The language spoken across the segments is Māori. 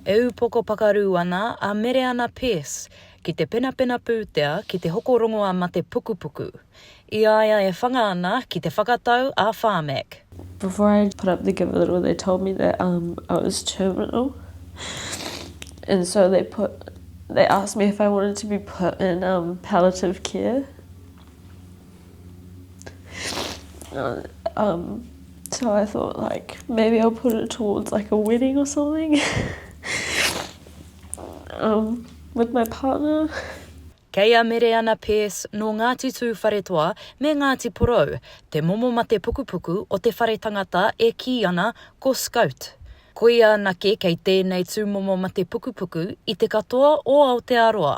E ūpoko pakarū ana a Mereana Pearse ki te penapena pūtea ki te hoko rongoa mate pukupuku, i a ia e whanga ana ki te whakatau a Pharmac. Before I put up the give a little they told me that um I was terminal and so they put they asked me if I wanted to be put in um palliative care. Um, so I thought like maybe I'll put it towards like a wedding or something um, with my partner. Kei a Mereana Pearce nō Ngāti Tūwharetoa me Ngāti Porou, te momo mate pukupuku o te whare tangata e kī ana ko Scout. Koia anake kei tēnei tūmomo mate pukupuku i te katoa o Aotearoa.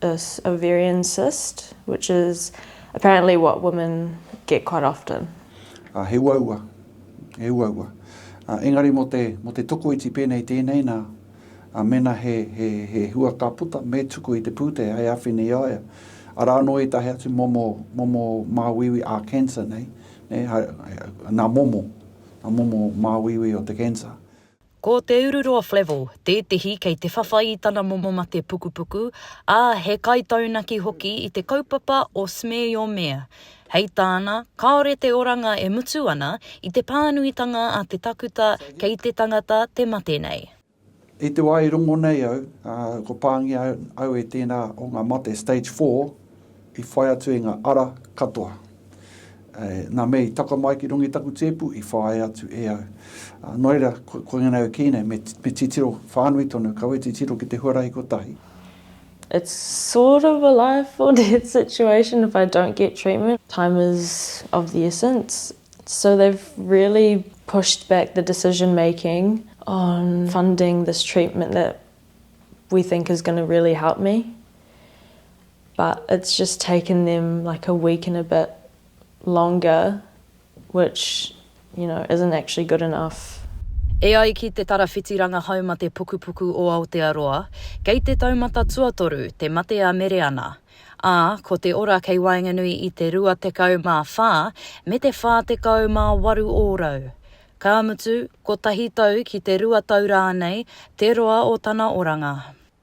This ovarian cyst, which is apparently what women get quite often. Ā, he uaua, he uaua. Ā, engari mō te, mō te tokoiti pēnei tēnei, nā, ā, mēnā he, he, he hua ka puta, me tuku i te pūtea hei āwhina i a ia. Arā anō ētahi atu momo, momo māuiui ā-cancer nei, nē, hai, hai, nā momo, nā momo māuiui o te cancer. Ko te ururoa Flavell tētehi kei te whawhai i tana momo mate pukupuku, ā, he kaitaunaki hoki i te kaupapa o Smear Your Mare. Hei tāna, kāore te oranga e mutu ana i te pānuitanga a te takuta kei te tangata te mate nei. I te wā i rongo nei au, ko pāngia au e tēnā o ngā mate Stage Four, I whai atu e nga ara katoa. E, na mea i taka mai ki runga i taku tepu, i whaia atu e au. A, no reira, ko, koinga nei au ki nei, me, me titiro whanui tonu, kaua e titiro ki te huarahi kotahi. It's sort of a life or death situation if I don't get treatment. Time is of the essence. So they've really pushed back the decision making on funding this treatment that we think is going to really help me. but it's just taken them like a week and a bit longer which you know isn't actually good enough. E ai ki Te Tarawhiti Rangahaumate Pukupuku o Aotearoa, kei te taumata tuatoru te mate a Mereana, ā, ko te ora kei waenganui i te 24 me te 48 ōrau. Ka mutu, kotahi tau ki te rua tau rānei te roa o tana oranga.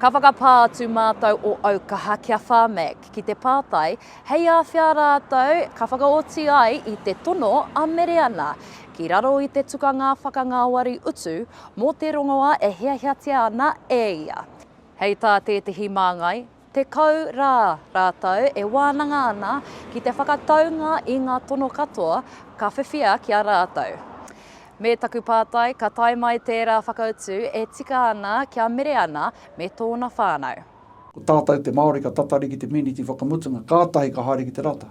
Ka whakapā atu mātou o Aukaha ki a Pharmac ki te pātai hei āwhea rātou ka whakaoti ai i te tono a Mereana ki raro i te tukanga whakangāwari utu mō te rongoā e hiahiatia ana e ia. Hei tā tētehi māngai, Tekau rā rātou e wānanga ana ki te whakataunga i ngā tono katoa ka whiwhia ki a rātou. Me taku pātai ka tae mai tērā whakautu e tika ana kia mere ana me tōna whānau. Ko tātou te Māori ka tatari ki te mīniti whakamutunga, kātahi ka haere ki te rata.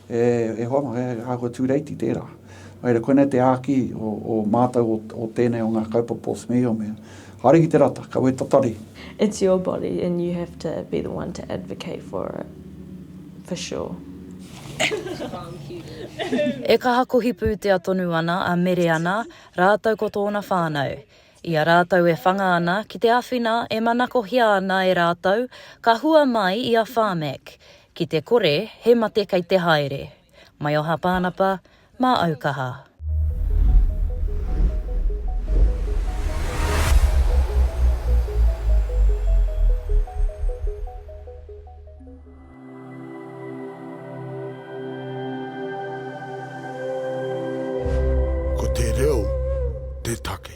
E hoa, he āhua tūreiti tērā. Nō reira, koinei te āki o mātou o tēnei o ngā kaupapa o Smee, o mea, haere ki te rata, kaua e tatari. It's your body and you have to be the one to advocate for it, for sure. E kaha kohi pūtea tonu ana a Mereana rātou ko tōna whānau. I a rātou e whanga ana ki te āwhina e manakohia ana e rātou, ka hua mai i a Pharmac, ki te kore he mate kei te haere. Maioha Pānapa, mā Aukaha. Ko te reo te take.